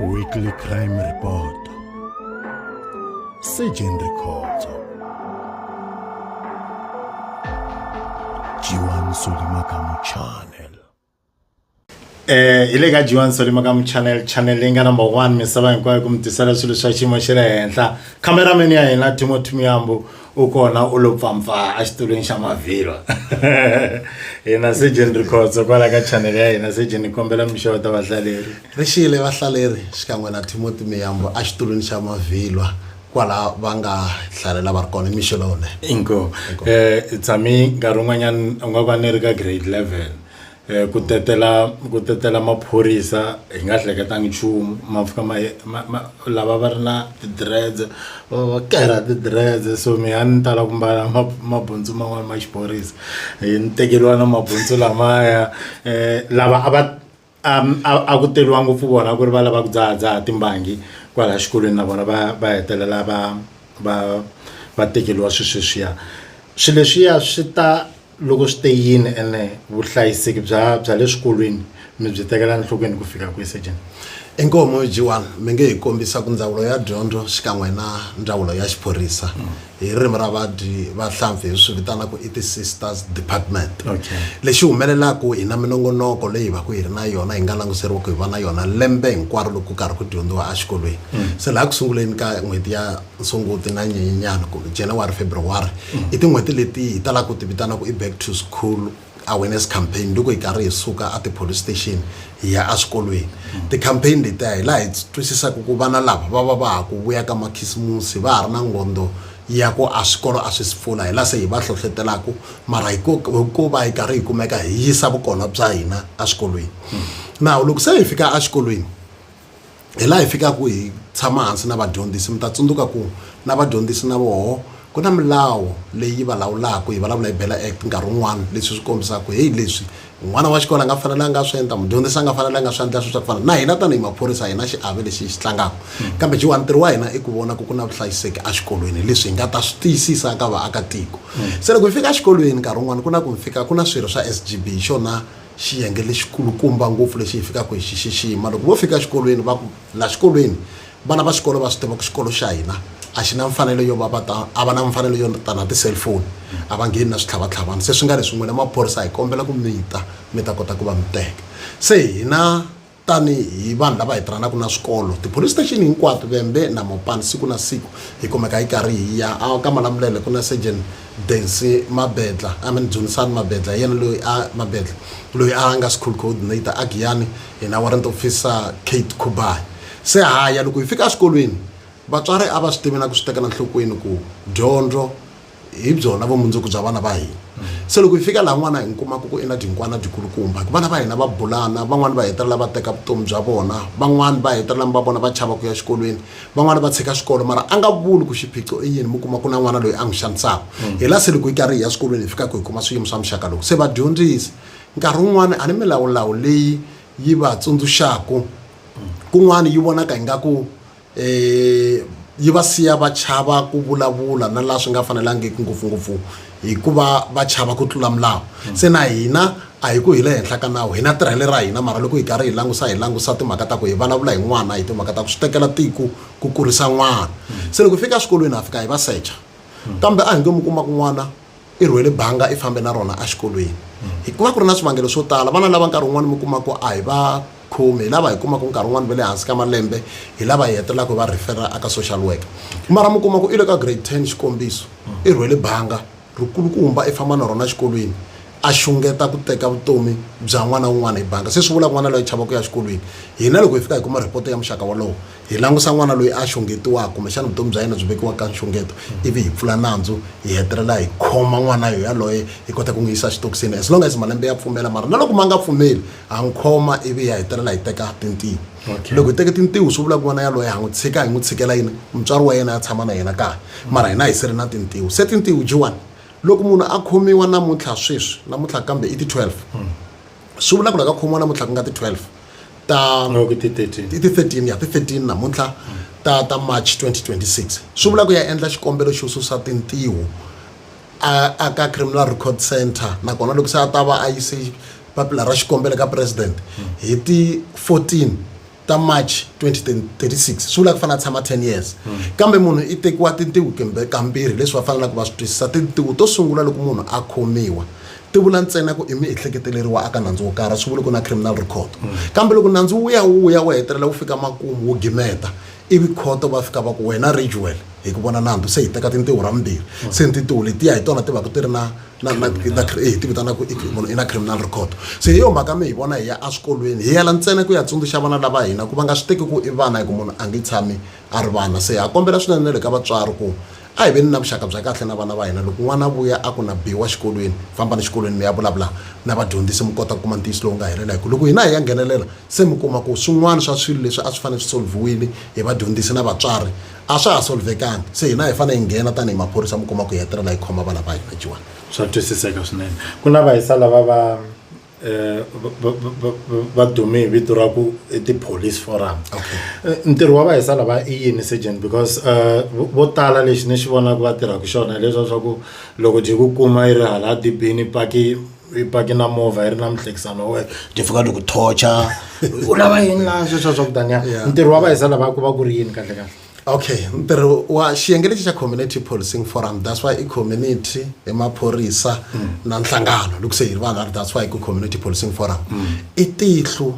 Weekly Crime Report Surgeon Records Jiwan Solimakamu Channel eh hi le ka Jiwan Solimakamu Channel channel leyi nga number 1 misava hinkwayo ku mi tisela swilo swa xiyimo xa le henhla cameraman ya hina Timothy Muyambu u kona u lo pfampfaa exitulwini xa mavhilwa hina sejeni rikhotso kwala ka chanele ya hina sejeni ni kombela mixovo ta vahlaleri ri xiyile vahlaleri xikan'we na timoti miyambo exitulwini xa mavhilwa kwala va nga hlalela va ri kona mixo lowunene inkomu um tshami nkarhi wun'wanyana u nga va ni ri ka grade level ku tetela ku tetela maphorisa hi nga hleketanga nchumu ma fika ma ma ma lava va ri na ti-dreads va va va karha ti-dreads so me a ni tala ku mbala ma mabutsu man'wani ma xiphorisa hi ni tekeriwa na mabutsu lamaya lava a va a ku teriwa ngopfu vona ku ri va lava ku dzahadzaha timbangi kwala xikolweni na vona va va hetelela va va va tekeriwa swi sweswiya swi leswiya swi ta. loko swi te yini ene vuhlayiseki bya bya le swikolweni mi byi tekela enhlokweni ku fika kwihi Sejeni? Inkomu G1, mi nge hi kombisa ku Ndzawulo ya Dyondzo xikan'we na Ndzawulo ya Xiphorisa hi ririmi ra vadyi va hlampfi hi swi vitana ku i ti sisters department. Okay. Lexi humelelaku hi na minongonoko leyi hi vaku hi ri na yona hi nga languseriwa ku hi va na yona lembe hinkwaro loko ku karhi ku dyondziwa a xikolweni. Se laha ku sunguleni ka n'hweti ya. sunguti na nyenyenyana kumbe january february mm. i tin'hweti leti hi talaka ku ti vitana ku i back to school awareness campaign loko hi karhi hi suka a ti-police station hi ya eswikolweni mm. ti-campaign letiya hi laha hi twisisaka ku vana lava va va va ha ku vuya ka makhisimusi va ha ri na ngondo ya ku a swikolo a swi si pfula hi la se hi va hlohletelaku mara hi ku va hi karhi hi kumeka hi yisa vukona bya hina eswikolweni mm. nawu loko se hi fika exikolweni hi laha hi fikaka hi tshama hansi na vadyondzisi mi ta tsundzuka ku na vadyondzisi na voho ku na milawu leyi va lawulaka hi vulavula hi bela act nkarhi wun'wana leswi swi kombisaka ku heyi leswi n'wana wa xikolo a nga fanelanga a swi endla mudyondzisi a nga fanelanga a swi endla swi swa ku fana na hina tanihi maphorisa hina xiave lexi hi xi tlangaka kambe jiwa ntirho wa hina i ku vona ku ku na vuhlayiseki exikolweni leswi hi nga ta swi tiyisisa ka vaakatiko se loko hi fika exikolweni nkarhi wun'wana ku na ku mi fika ku na swirho swa s g b hi xona xiyenge lexikulukumba ngopfu lexi hi fikaka hi xi xixima loko vo fika exikolweni va ku la xikolweni vana va xikolo va swi tiva ku xikolo xa hina a xi na mfanelo yo va va ta a va na mfanelo yo ta na ti-cellphone a va ngheni na switlhavatlhavana se swi nga leswi n'wina maphorisa hi kombela ku mi ta mi ta kota ku va mi teka se hina tanihi vanhu lava hi tirhanaka na swikolo tipolice station hinkwato vembe na mopani siku na siku hi kumeka hi karhi hi ya a ka malamulele ku na surgeon densi mabedla i mean dzunisani mabedla hi yena loyi a mabedla loyi a nga school coordinator a giyani hina warrant officer kate kubai se haya loko hi fika eswikolweni vatswari a va swi tivi na ku swi tekela nhlokweni ku dyondzo hi byona vumundzuku bya vana va hina se loko hi fika laha n'wana hi n'wi kumaka ku i na dinkwana byikulukumba hi ku vana va hina va bulana van'wani va hetelela va teka vutomi bya vona van'wani va hetelela mi va vona va chava ku ya xikolweni van'wani va tshika xikolo mara a nga vuli ku xiphiqo i yini mi kuma ku na n'wana loyi a n'wi xanisaka mm. hi la se loko yi karhi hi ya swikolweni hi fikaka hi kuma swiyimo swa muxaka lowu se vadyondzisi nkarhi wun'wana a ni milawulawu leyi yi va tsundzuxaka mm. kun'wana yi vonaka ingaku yi va siya va chava ku vulavula na laha swi nga fanelangiki ngopfungopfu hikuva va chava ku tlula milawu se na hina a hi ku hi le henhla ka nawu hina tirhele ra hina mara loko hi karhi hi langusa hi langusa timhaka ta ku hi vulavula hi n'wana hi timhaka ta ku swi tekela tiko ku kurisa n'wana se loko hi fika eswikolweni ha fika hi va secha kambe a hi nge mu kuma ku n'wana i rhwele banga i fambe na rona exikolweni hi ku va ku ri na swivangelo swo tala vana lava nkarhi wun'wani mi kuma ku a hi va khomi hi lava hi kumaka nkarhi wun'wani va le hansi ka malembe hi lava hi hetelelaka hi va rhifera aka social worker mara mi kuma ku i le ka grade ten xikombiso i rhwele banga ri kulukumba i famba na rona exikolweni a xungeta ku teka vutomi bya n'wana wun'wana hi banga se swi vula ku n'wana loyi a chava ku ya exikolweni hina loko hi fika hi kuma report ya muxaka wolowo hi langusa n'wana loyi a xungetiwaka kumbexana vutomi bya yena byi vekiwa ka nxungeto ivi hi pfula nandzu hi hetelela hi khoma n'wana yo yaloye hi kota ku n'wi yisa xitokisini as long as malembe ya pfumela mara na loko ma nga pfumeli ha n'wi khoma ivi ya hetelela hi teka tintiho loko hi teke tintiho swi vula ku n'wana yaloye ha n'wi tshika hi n'wi tshikela yini mutswari wa yena ya tshama na yena kaya mara hina hi siri na tintiho se tintiho jiwani loko munhu a khomiwa namuntlha sweswi namuntlha kambe i ti-12 swi vula ku loko a khomiwa namuntlha ku nga ti-12 ta No, ke ti 13. ti ti 13 ya ti 13 namuntlha ta ta march 2026 swi vula ku ya endla xikombelo xo susa tintiho a a ka criminal record center nakona loko se a ta va a yise papila ra xikombelo ka president hi ti 14 ta march 2036 swi vula ku fanele a tshama 10 years kambe munhu i tekiwa tintiho kumbe kambirhi leswi va faneleke va swi twisisa tintiho to sungula loko munhu a khomiwa ti vula ntsena ku i miehleketeleri wa aka nandzu wo karhi swi vuli ku na criminal record kambe loko nandzu wu ya wu ya wu hetelela wu fika makumu wu gimeta ivi khoto va fika va ku wena rajuel hi ku vona nandzu se hi teka tintiho ra mimbirhi mm. se tintiho letiya hi tona ti va ku ti ri na hi eh, ti vitanaku munhu i na criminal record se hi yo mhaka mi hi vona hi ya eswikolweni hi yela ntsena ku ya tsundzuxa vana lava hina ku va nga swi teki ku i vana hi ku munhu a nge tshami a ri vana se ha kombela swinene le ka vatswari ku A hi veni na vuxaka bya kahle na vana va hina. Loko n'wana a vuya a ku na biwa xikolweni, fambani xikolweni mi ya vulavula na vadyondzisi mi kota ku kuma ntiyiso lowu nga helela. Hi ku loko hina hi ya nghenelela, se mi kuma ku swin'wana swa swilo leswi a swi fanele swi solviwile hi vadyondzisi na vatswari a swa ha solvekangi. Se hina hi fanele hi nghena tanihi maphorisa mi kuma ku hi hetelela hi khoma vana va hina. Jiwani. Swa twisiseka swinene. Ku na vahisa lava va. va dume hi vito ra ku i ti-police forum ntirho wa vahisa lava i yini surgeon because um vo tala lexi ni xi vonaka va tirhaka xona hileswiya swa ku loko byi ku kuma yi ri hala dibini paki yi paki na movha yi ri na muhlekisani wa wena byi fika byi ku torture u lava yini laha sweswiya swa ku taniya ntirho wa vahisa lava ku va ku ri yini kahlekahle. okay ntirho wa xiyenge lexi xa community policing forum that's why i community hi maphorisa mm. na nhlangano loko se hi ri vanhu ari that's why ku community policing forum mm. i tihlu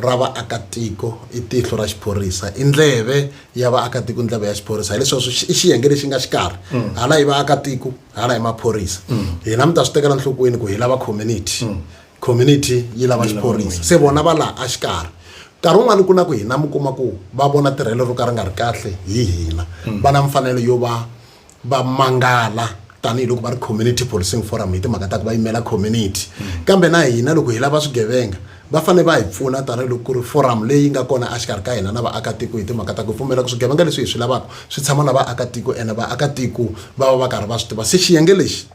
ra vaakatiko i tihlo ra xiphorisa i ndleve ya vaakatiko ndleve ya xiphorisa hileswaku i xiyenge lexi nga xikarhi mm. hala hi vaakatiko hala hi maphorisa mm. hina mi ta swi tekela nhlokweni ku hi lava community mm. community yi lava xiphorisa se vona va laha a xikarhi nkarhi wun'wani ku na ku hina mi kuma ku va vona tirhelo ro ka ri nga ri kahle hi hina va na mfanelo yo va va mangala tanihiloko va ri community policing forum hi timhaka ta ku va yimela community kambe na hina loko hi lava swigevenga va fanele va hi pfuna tanihiloko ku ri forum leyi nga kona exikarhi ka hina na vaakatiko hi timhaka ta ku pfumela ku swigevenga leswi hi swi lavaka swi tshama na vaakatiko ene vaakatiko va va va karhi va swi tiva se xiyenge lexi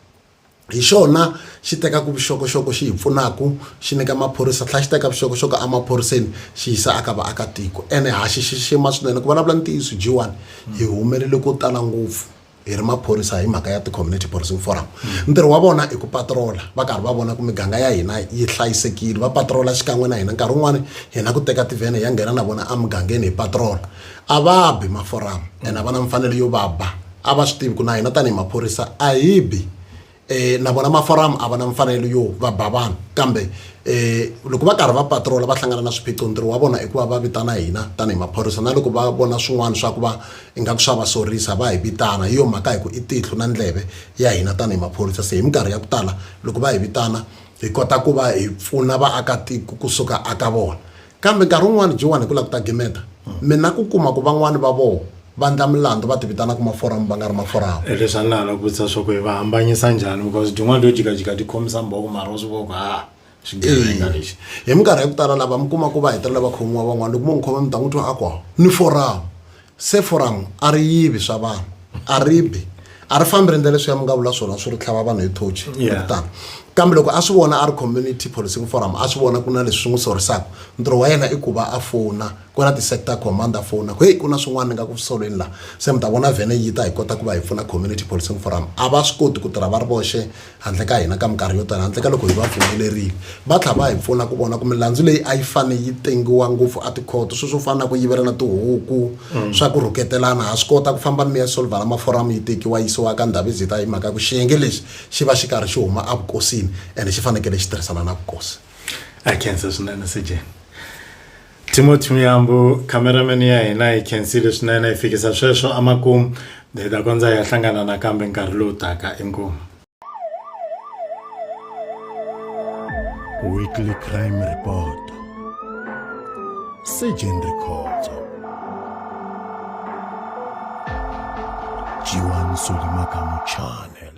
hi xona xi tekaka vuxokoxoko xi hi pfunaka xi nyika maphorisa tlhela xi teka vuxokoxoko emaphoriseni xi yisa aka vaakatiko ene ha xi xixima swinene ku vulavula ntiyiso jiwani hi humelele ko tala ngopfu hi ri maphorisa hi mhaka ya ti-community policing forum ntirho wa vona i ku patrola va karhi va vona ku miganga ya hina yi hlayisekile va patrola xikan'we na hina nkarhi wun'wani hina ku teka tivhene ya nghena na vona emugangeni hi patrola a va bi maforum ene a va na mfanelo yo va ba a va swi tivi ku na hina tanihi maphorisa a hi bi um na vona maforamu a va na mfanelo yo va ba vanhu kambe um loko va karhi va patrola va hlangana na swiphiqo ntirho wa vona i ku va va vitana hina tanihi maphorisa na loko va vona swin'wana swa ku va ingaku swa va sorisa va hi vitana hi yo mhaka hi ku i tihlo na ndleve ya hina tanihi maphorisa se hi minkarhi ya ku tala loko va hi vitana hi kota ku va hi pfuna vaakatiko kusuka aka vona Kambe nkarhi wun'wana Jowani ku la ku ta gimeta, mi na ku kuma ku van'wana va voho va ndla milandzu va tivitana ku maforamu va nga ri maforamu. E leswi a ni la la ku vutisa swa ku hi va hambanyisa njhani because dyin'wana lyo jikajika ti khomisa mbhoko mara wa swi vona ku haa xigevenga lexi. Hi minkarhi ya ku tala lava mi kuma ku va hetelela va khomiwa van'wana loko mo n'wi khoma mi ta n'wi twa a ku, Ni foramu! Se foramu a ri yivi swa vanhu, a ri bi, a ri fambi ri endla leswiya mi nga vula swona swo ri tlhava vanhu hi thochi kumbe Yeah. kutani. Kambe loko a swi vona a ri Community Policing Forum a swi vona ku na leswi swi n'wi sorisaka, ntirho wa yena i ku va a fona kwala ti-sector command a fona ku heyi ku na swin'wana ni nga ku swi solweni laha, se mi ta vona vhene yi ta hi kota ku va hi pfuna Community Policing Forum. A va swi koti ku tirha va ri voxe handle ka hina ka minkarhi yo tala handle ka loko hi va pfumelerile va tlhela va hi pfuna ku vona ku milandzu leyi a yi fane yi tengiwa ngopfu a tikhoto sweswo fana na ku yivelana tihuku mm. swa ku rhuketelana ha swi kota ku famba mi ya solvala maforamu yi tekiwa yisiwa ka ndhavizita hi mhaka ku xiyenge lexi xi va xi karhi xi huma evukosini ene xi fanekele xi tirhisana na vukosi a khensa swinene sejeni Timothy Muyambu cameraman ya hina hi khensile swinene hi fikisa sweswo amakumu hi ta kondza hi ya hlangana nakambe nkarhi lowu taka inkomu weekly crime report sejen records jiwan solimakamu channel